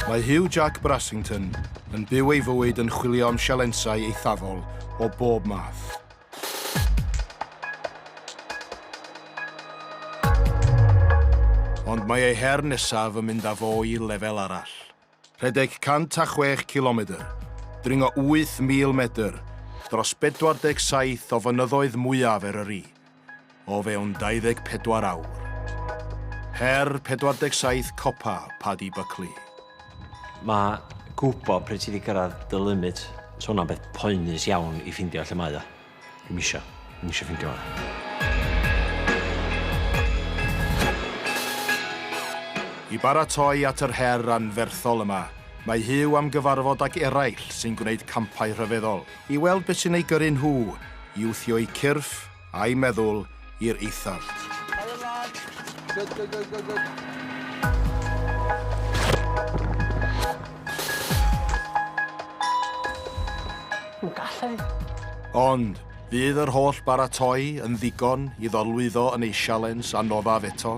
Mae Hugh Jack Brassington yn byw ei fywyd yn chwilio am sialensau eithafol o bob math. Ond mae ei her nesaf yn mynd â fo i lefel arall. Rhedeg 106 cilomedr, dringo 8,000 medr dros 47 o fynyddoedd mwyaf Eryri o fewn 24 awr. Her 47 copa Paddy Buckley. Mae gwybod pryd ti 'di cyrraedd dy limit, 'sa hwnna'n beth poenus iawn i ffeindio lle mae o. Dwi'm isio. Dwi'm isio ffindio hwnna. I baratoi at yr her anferthol yma, mae Huw am gyfarfod ag eraill sy'n gwneud campau rhyfeddol, i weld beth sy'n eu gyrru nhw i wthio'u cyrff, a'u meddwl, i'r eithaf. Helo lads. Good, good, good, good, good. Yn gallu. Ond, fydd yr holl baratoi yn ddigon i ddorlwyddo yn ei sialens a nodaf eto?